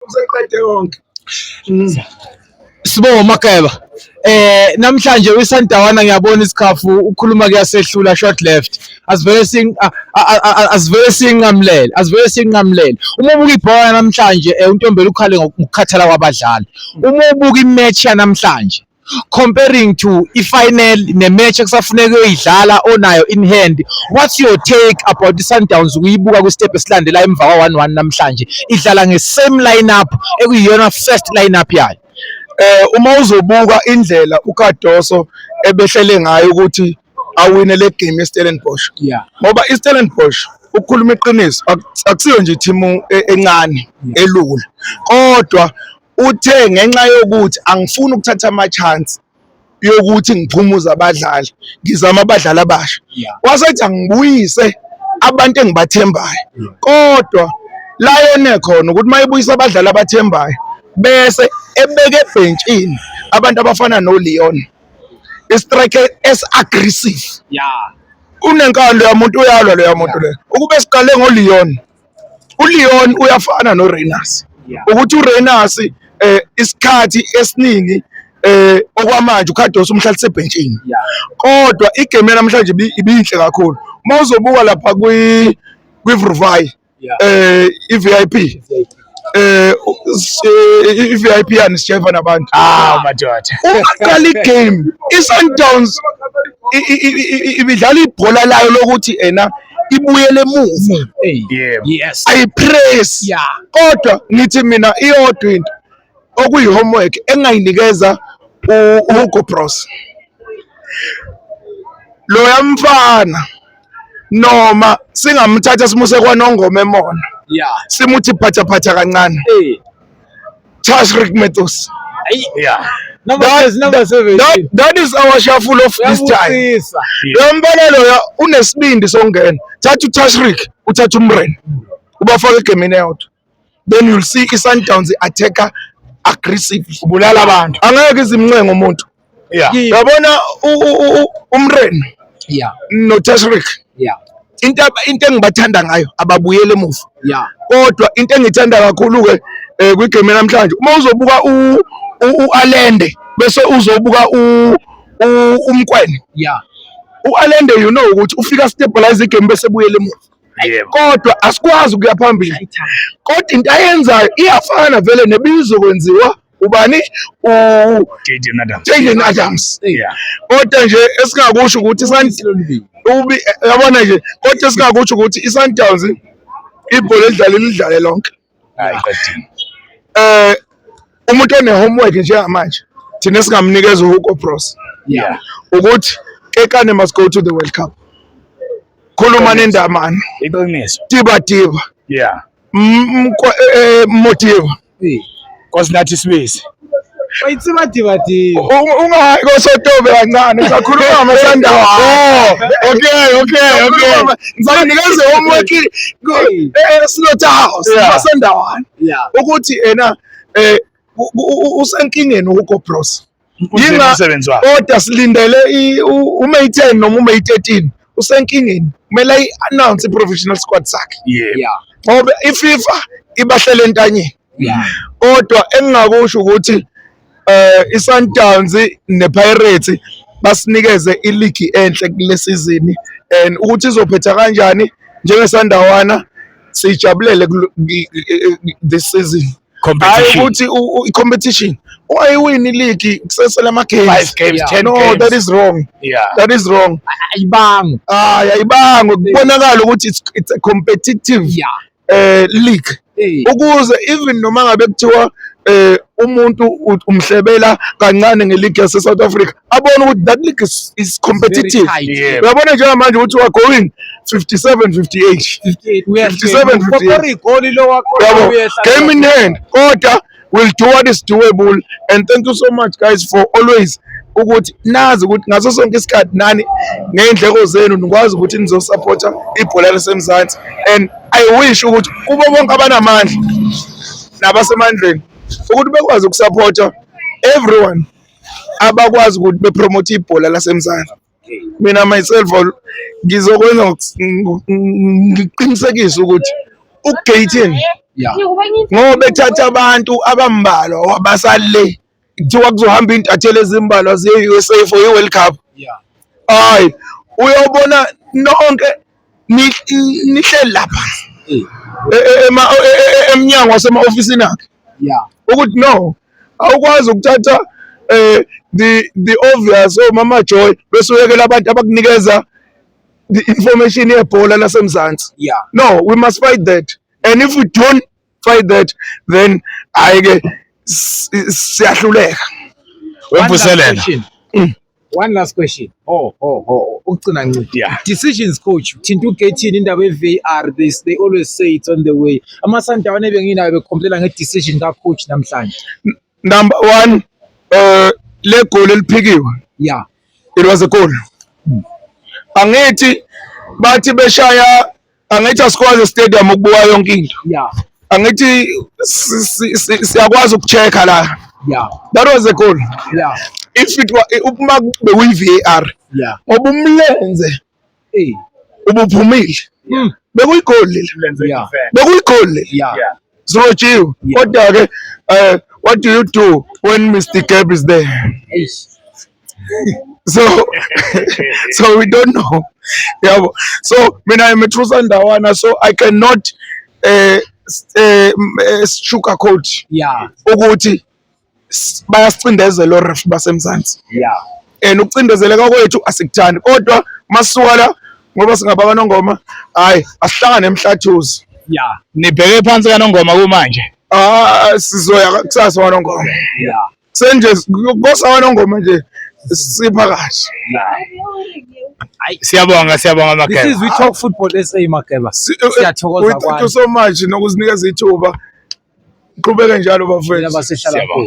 useqede konke Sibo Mageba eh namhlanje uyisandawana ngiyabona isikhafu ukhuluma kuyasehlula short left asivele sing asivele sinqamlele asivele sinqamlele uma ubuka ibhola namhlanje eh, untombela ukhale ngokukhathala kwabadlali uma ubuka imatch yanamhlanje comparing to i-final ne-match ekusafuneka uyoyidlala onayo in hand what's your take about i-sundowns ukuyibuka kwi-step esilandela emva kwa-one-one namhlanje idlala nge-same lineup ekuyiyona first lineup yayo eh uma uzobuka indlela uKadoso ebehlele ngayo ukuthi awine le game eStellenbosch yeah ngoba iStellenbosch ukukhuluma iqiniso akusiyo nje i-team e-, encane elula kodwa Uthe ngenxa yokuthi angifuni ukuthatha ama-chance yokuthi ngiphumuze abadlali, ngizama abadlali abasha. Wasethi angibuyise abantu engibathembayo kodwa la yone khona ukuthi uma ebuyisa abadlali abathembayo bese ebeke ebhentshini abantu abafana noLeon istrike esi-aggressive unenkani loya muntu uyalwa loya muntu leyo ukube siqale ngoLeon uLeon uyafana noReyners ukuthi uReyners eh isikhathi esiningi eh okwamanje uKhadosi umhlalise ebhentshini kodwa igame namhlanje ibinhle kakhulu mawuzobuka lapha kwi kwiVruvayi eh iVIP eh i-VIP yani sijeva nabantu ah madoda ungaqala igame i-Sundowns ibidlala ibhola layo lokuthi ena ibuyele emuva yes ayipress kodwa ngithi mina iyodwa into okuyi-homework engingayinikeza uHugo Bros loya mfana noma singamthatha simuse kwanongoma emona yeah simuthi phatha phatha kancane eh Charles Rick Metos yeah Number that, is number 17. That, that is our shuffle of this time. Lo mbona loya unesibindi songena. Thatha uTashrik, uthatha uMren. Ubafaka egemini eyodwa. then you'll see i-sundowns i-attacker aggressively ubulala abantu angeke izimncenga umuntu yabona umreno notashrik into into engibathanda ngayo ababuyele emuva kodwa into engithanda kakhulu-ke um kwigame namhlanje uma uzobuka u-alende bese uzobuka umkwene u-alende you know ukuthi ufika stabilize igame bese buyele emuva kodwa asikwazi ukuya phambili kodwa into ayenzayo iyafana vele nebizokwenziwa ubani uJaden Adams Jaden Adams kodwa nje esingakusho ukuthi yabona nje kodwa esingakusho ukuthi iSundowns ibhola elidlale lidlale lonke hayi qedini eh umuntu one homework njengamanje thina singamnikeza uHugo Bros yeah ukuthi kekane must go to the World Cup khuluma nendamana iqiniso tiba tiba yeah mkoe eh, eh, motiva cause nathi sibisi ungayi kosotobe kancane usakhuluma amasandawa oh, okay okay okay ngisakunikeze homework eslot eh, eh, house amasandawana ukuthi ena eh, usenkingeni ukobros kodwa silindele uMay 10 noma uMay 13 usenkingeni kumele ayi-announce i-professional squad sakhe ngoba iFifa ibahlele entanyeni kodwa engingakusho ukuthi eh iSundowns nePirates basinikeze iligi enhle kulesizini and ukuthi izophetha kanjani njengesandawana siyijabulele this season competition ukuthi i competition wayiwini league kusesele ama games 5 games 10 no, games no that is wrong yeah that is wrong ayibanga ah ayibanga kubonakala ukuthi it's, it's a competitive yeah. uh, league hey. ukuze even noma ngabe kuthiwa eh umuntu umhlebela kancane ngeligi yase South Africa abone ukuthi that league is, is competitive uyabona njengamanje ukuthi wa going 57 58 57 58 game in hand kodwa will do what is doable and thank you so much guys for always ukuthi nazi ukuthi ngaso sonke isikhathi nani ngey'ndleko zenu nikwazi ukuthi nizosapotha ibhola lisemzansi and i wish ukuthi kubo bonke abanamandla nabasemandleni ukuthi bekwazi ukusapotha everyone abakwazi ukuthi bepromote ibhola lasemzansi mina myself ngizokwenza ngiqinisekise ukuthi ugating ngoba ethatha abantu abambalwa wabasale kuthiwa kuzohamba intatheli ezimbalwa ziye-usa for i-world cup hayi uyobona nonke nihleli lapha eh. e, e, e, emnyango wasema-ofisini akhe ukuthi no awukwazi ukuthatha um the the obvious omama oh, joy bese uyekela abantu abakunikeza the information yebhola lasemzansi no we must fight that and if we don't fight that then hayi ke siyahluleka wemvuselela mm. one last question oh oh oh ukugcina ncidi yeah. decisions coach thinta ugethini indaba ye-var they, they always say it's on the way amasandawana ebenginayo bekhomplela nge-decision kacoach namhlanje number one uh, le goli eliphikiwe yeah it was a goal hmm. angithi bathi beshaya angithi asikwazi stadium ukubuka yonke into yeah angithi siyakwazi ukucheck-a la yeah that was a goal yeah if it were uma kube uyi-var yeah ngoba umlenze eh ubuphumile hmm. bekuyigoli leli bekuyigoli leli sirotshiwe kodwa-ke um eh, what do you do when mr gab is there so so we don't know yabo so mina i'm a true sandawana so i cannot eh eh, eh sugar coat yeah ukuthi s- bayasicindezela oref basemzansi yeah and ukucindezeleka kwethu asikuthandi kodwa masuka la ngoba singaba kanongoma hayi asihlangane emhlathuzi yeah nibheke phansi kanongoma kumanje ah sizoya kusasa wanongoma yeah senje kosawa nongoma nje sipha kahle Hayi siyabonga siyabonga Makeba. This is we talk football SA Makeba. Eh, siyathokoza kwani. Thank you so much nokuzinikeza ithuba. Qhubeke njalo bafethu. Siyabonga.